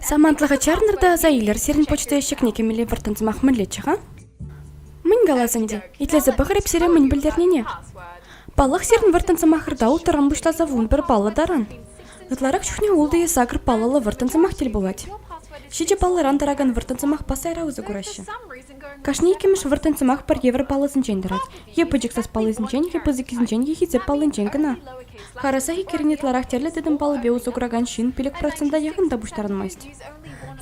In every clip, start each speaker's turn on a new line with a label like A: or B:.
A: Самантлӑха чарнӑр та аса илер, сирӗн почта ещӗкне кӗмелле вӑрттӑн сӑмах мӗнлеччӗ-ха? Мӗн калас ӗнтӗ, итлесе пӑхрӑп сире мӗн пӗлтернине. Паллах, сирӗн вӑрттӑн сӑмахӑрта уттаран пуҫласа вун пӗр паллӑ таран. Ытларах чухне ултӑ е сакӑр паллӑллӑ вӑрттӑн сӑмах тӗл пулать. Ҫичӗ паллӑран тӑракан вӑрттӑн сӑмахпа сайра усӑ кураҫҫӗ. Кашни иккӗмӗш вӑрттӑн сӑмах пӗр евӗр паллӑсенчен тӑрать е пӗчӗк сас паллисенчен е пысӑккисенчен е хисеп паллинчен кӑна. Харӑса иккӗрин ытларах тӗрлӗ тӗтӗм паллипе усӑ куракан ҫын пилӗк процента яхӑн та пуҫтарӑнмасть.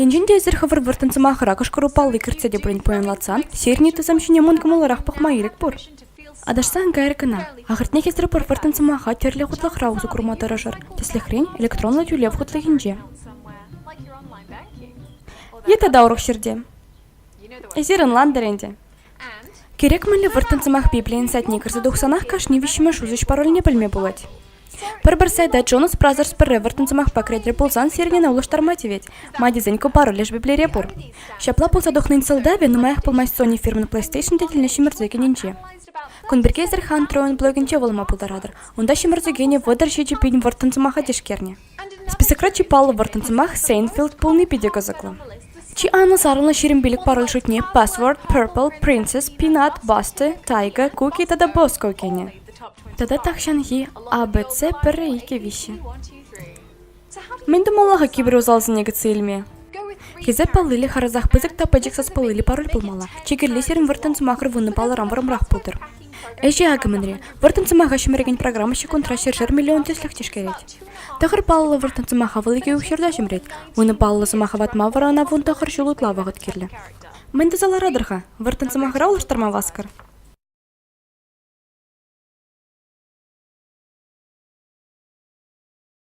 A: Енчен те эсир хӑвӑр вӑрттӑн сӑмахӑра кӑшкӑру палли кӗртсе те пурин пуянлатсан, серни тӑсӑм ҫине мункӑмулларах пӑхма ирӗк пур. Аташсан кайрӑр кӑна. Ахӑртнехисӗр пӗр вӑрттӑн сӑмаха тӗрлӗ хутлӑхра усӑ курма тӑрӑшӑр. Тӗслӗхрен, электронлӑ тӳлев хутлӑхӗнче. Е тата урӑх ҫӗрте. Эсир ӑнлантӑр ӗнтӗ. Кирек мӗнле вӑрттӑн сӑмах Библийӗн сайтне кӗрсе тухсанах кашни виҫҫӗмӗш усӑҫ паролне пӗлме пулать. Пӗр-пӗр сайта Джонас Бразерс пӗрре вӑрттӑн сӑмахпа кӗретӗр пулсан сирӗн ӑна улӑштарма тивет. Ма тесен ку пароль леш Библире пур. Ҫапла пулса тухнин сӑлтавӗ нумаях пулмасть Sony фирмин PlayStation тетелне ҫӗмӗрсе кӗнинче. Кун пирки эсир Huntroen блогӗнче вулама пултаратӑр. Унта ҫӗмӗрсе кӗнӗ вӑтӑр ҫичӗ пин вӑрттӑн сӑмаха тишкернӗ. Списокра чи паллӑ вӑрттӑн сӑмах Сейнфилд пулни питӗ кӑсӑклӑ. Чи анлӑ сарӑлнӑ ҫирӗм пилӗк пароль шутне Password, Purple, Princess, Peanut, Buster, Tiger, Cookie тата Bosco кӗнӗ. Тата тахҫанхи ABC пӗрре икӗ виҫҫӗ. Мӗн тумалла-ха кибер усалсене кӗтсе илме? Хисеп паллили харӑсах пысӑк та пӗчӗк саспаллили пароль пулмалла. Чи кирли сирӗн вӑрттӑн сӑмахӑр вуннӑ паллӑран вӑрӑмрах пултӑр. Ӗҫе акӑ мӗнре вӑрттӑн сӑмаха ҫӗмӗрекен программа ҫеккунтра ҫӗршер миллион тӗслӗх тишкерет. Тӑхӑр паллӑ вӑрттӑн сӑмаха вӑл икӗ укҫӑрта ҫӗмӗрет. вунӑ паллӑ сӑмаха ватма вара ӑна вун тӑхӑр ҫул ытла вӑхӑт кирлӗ. Мӗн туса ларатӑр-ха? Вӑрттӑн сӑмахра улӑштарма васкӑр.